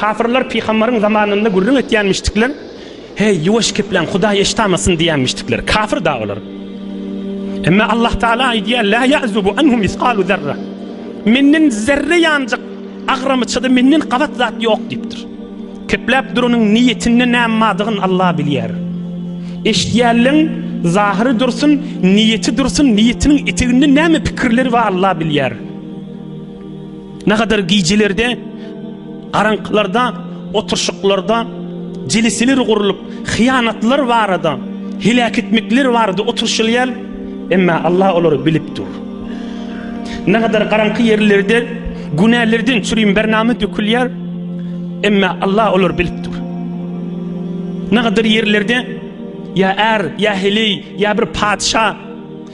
Kapyrlar pygambaryň zamanynda gürrüň etýänmişdikler, Heý, ýuwaş gepläň, Hudaý eşitamasyn diýýänmişdikler. Kafir da olar. Emma Allah Taala aýdýar, La ýa'zubu anhu misgalu zerra. Menden zerre ýanjyk agramyçada menden gabat zat ýok diýipdir. Kepläp duranyň niýetinde näm madygyn Allah bilýär. Eşidýänleň zahyry dursun, niýeti dursun, niýetiniň eteginde näme pikirleri bar Allah bilýär. Nakadar gijelerde, garaňkylarda, oturşyklarda jeliseler gurlup, hyýanatlar barada, heläk etmekler barada oturşylýar, emma Allah olary bilip dur. Nakadar garaňky ýerlerde günälerden çürim bernama dökülýär, emma Allah olary bilip dur. Nakadar ýerlerde ýa är, ýa heleý, ýa bir patyşa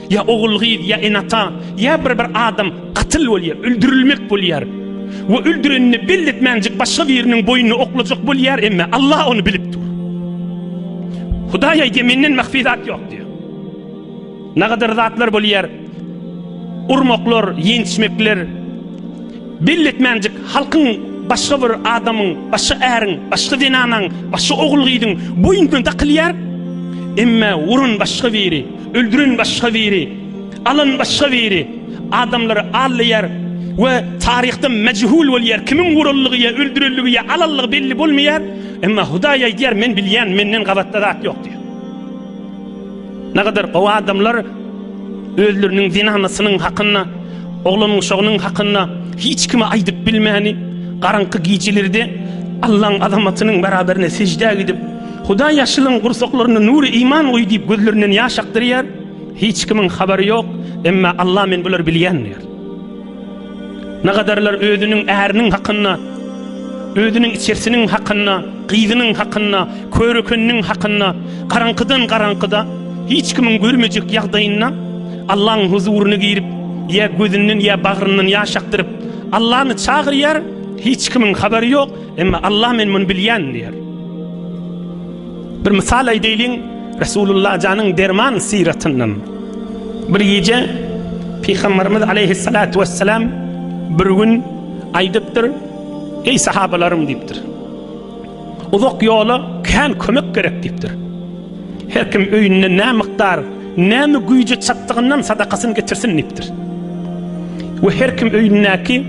Ýa ogul-gyz, ýa ene-ata, ýa bir-bir adam gatyl bolýar, öldürilmek bolýar we öldürenini belli etmänjik başga biriniň boýnuny oklajak bolýar, emma Allah ony bilip dur. Hudaý aýdýar, Menden mahfi zat ýok diýýär. Nagadar zatlar bolýar, urmaklar, ýençmekler, belli etmänjik halkyň başga bir adamyň, başga äriň, başga zenanaň, başga ogul-gyzyň boýnuna dakylýar, emma uran başga biri. Öldüren başga biri, alan başga biri, adamlary aldaýar we taryhda mejhul bolýar, kimiň vuranlygy ýa öldürenligi ýa alanlygy belli bolmaýar, emma Hudaý aýdýar, men bilýän, menden gabatda zat ýok diýýär. Nägadar gowy adamlar özleriniň zenanasynyň hakynda, oglan-uşagynyň hakynda hiç kime aýdyp bilmäni, garaňky gijelerde Allaň azamatynyň beraberine seždä gidip, Hudaý ýaşulyň gursaklaryna nury iman guý diýip gözlerinden ýaş akdyrýar. Hiç kimiň habary ýok, emma Allah men bulary bilýän diýýär. Nagadarlar özüniň äriniň hakynda, özüniň içersiniň hakynda, gyzynyň hakynda, körekeniniň hakynda, garaňkydan garaňkyda, hiç kimiň görmejek ýagdaýynda Allaň huzuryna girip, ýa gözünden ýa bagryndan ýaş akdyryp, Allany çagyrýar, hiç kimiň habary ýok, Emma Allah men muny bilýän diýer. Bir mysal aýdaýlyň, Resulullah janyň derman syratyndan. Bir gije Pygamberimiz aleyhissalatu vesselam bir gün aýdypdyr, Eý sahabalarym diýipdir. Uzak ýola kän kömek gerek diýipdir. Her kim öýünde nä mukdar, näme güýji çatdygyndan sadakasyny getirsin diýipdir. We her kim öýündäki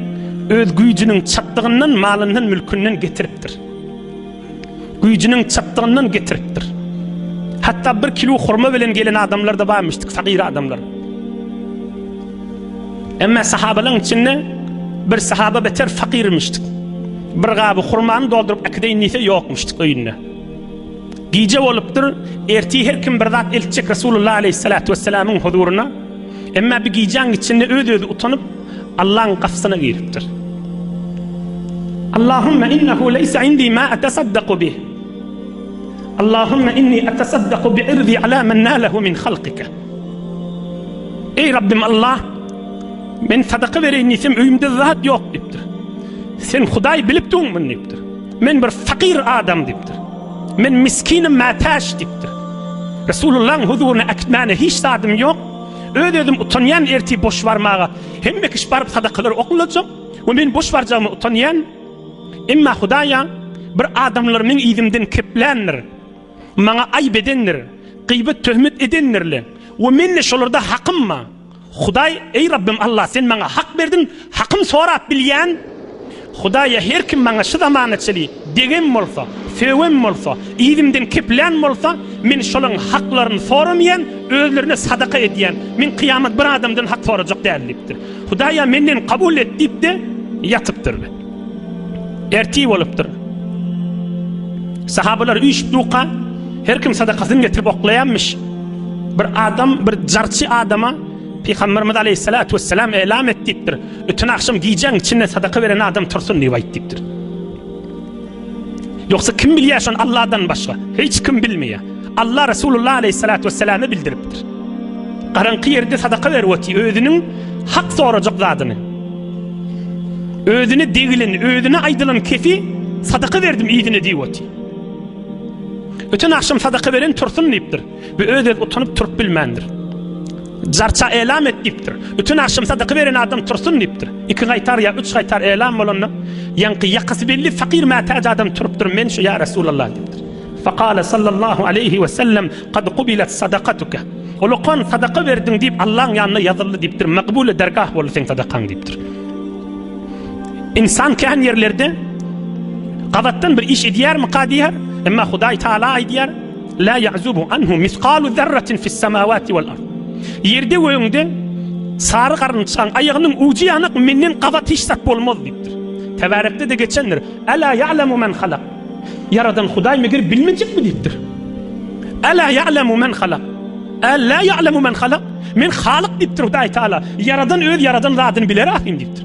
öz güýjüniň çatdygyndan, malyndan, mülkünden getiripdir. Güýjüniň çatdygyndan getiripdir. Hatda bir kilo hurma bilen gelen adamlar-da barmyşdyk, fagyr adamlar. Emma sahabalaryň içinde bir sahaba beter fakirmişdik. Bir gaby hurmany dolduryp äkideýin diýse ýokmuşdyk öýünde. Gije bolupdyr, ertir her kim bir zat eltjek Resulullah aleýhissalatu wessalamyň huzuryna. Emma bi gijäň içinde öz-özi utanyp, Allaň gapysyna giripdir. Allahumma innahu leýsa indi ma atasaddaqu bih. Allahumma inni atasaddaqu bi irdi ala men nalahu min halqika. Eý Rabbim Allah, men sadaka bereýin diýsem öýümde zat ýok diýipdir. Sen Hudaý bilip durmuň diýipdir. Men bir fakyr adam diýipdir. Men miskinim mätäç diýipdir. Resulullahyň huzuryna äkitmäne hiç zadym ýok. Öz-özüm utanýan ertir boş barmaga. Hemme kişi baryp sadakalary oklajak we men boş barjagyma utanýan. Emma Hudaýa bir adamlar meň yzymdan kepländir. Maňa aýyp edendir. Gyýbat töhmet edendirle we mende şolarda hakym bar. Hudaý, Eý Rabbym Alla, Sen maňa hak berdiň, hakym sorap bilýän Hudaýa her kim maňa şu zamana çeli degem bolsa, sögem bolsa, yzymdan kepilän bolsa, men şolaň haklaryny soramaýan, özlerine sadaka edýän, men kyýamat bir adamdan hak sorajak däl diýipdir. Hudaý-a menden kabul et diýip-de ýatypdyr. Ertir bolupdyr. Sahabalar üýşüp duka, her kim sadakasyny getirip oklaýanmyş. Bir adam, bir jarçy adama Pygamberimiz aleyhissalatu vesselam elam et diýipdir. Bütün akşam gijäň içinde sadaka beren adam tursun diýip aýt diýipdir. Ýogsa kim bilýär şony Allahdan başga? Hiç kim bilmeýär. Alla Resulullah aleyhissalatu vesselame bildiripdir. Garaňky ýerde sadaka berip otyr, özüniň hak sorajak zadyny. Özüne degilen, özüne aýdylan kefi sadaka berdim ýedine diýip otyr. Öten akşam sadaka beren tursun diýipdir. Bu öz öz utanyp turup bilmändir. Jarça elam et diýipdir. Öten akşam sadaka beren adam tursun diýipdir. Iki gaýtar ýa üç gaýtar elam bolanda, ýaňky ýakasy belli fakir mätäç adam turupdyr. Men şu ýa Resulullah diýipdir. Fekale sallallahu aleýhi we sellem, Kad kubilet sadakatuke. Ulukan sadaka berdiň diýip Allaň ýanynda ýazyldy diýipdir, Makbule dergah boldy seň sadakaň diýipdir. Ynsan kän ýerlerde gabatdan bir iş edýärmika diýär, emma Hudaý Taala aýdýar, La ya'zubu anhu misqalu zerratin fis semawati wal ard. Ýerde we öňde sary garynçaň aýagynyň ujy ýanyk menden gabat hiç zat bolmaz diýipdir. Tebarekde de geçendir. Ala ya'lamu men halak. Ýaradan Hudaý meger bilmejekmi diýipdir. Älä ýa'lemu men halak. Älä ýa'lemu men halak. Men Halyk diýipdir Hudaý Taala. Ýaradan öz ýaradan zadyny biler ahyryn diýipdir.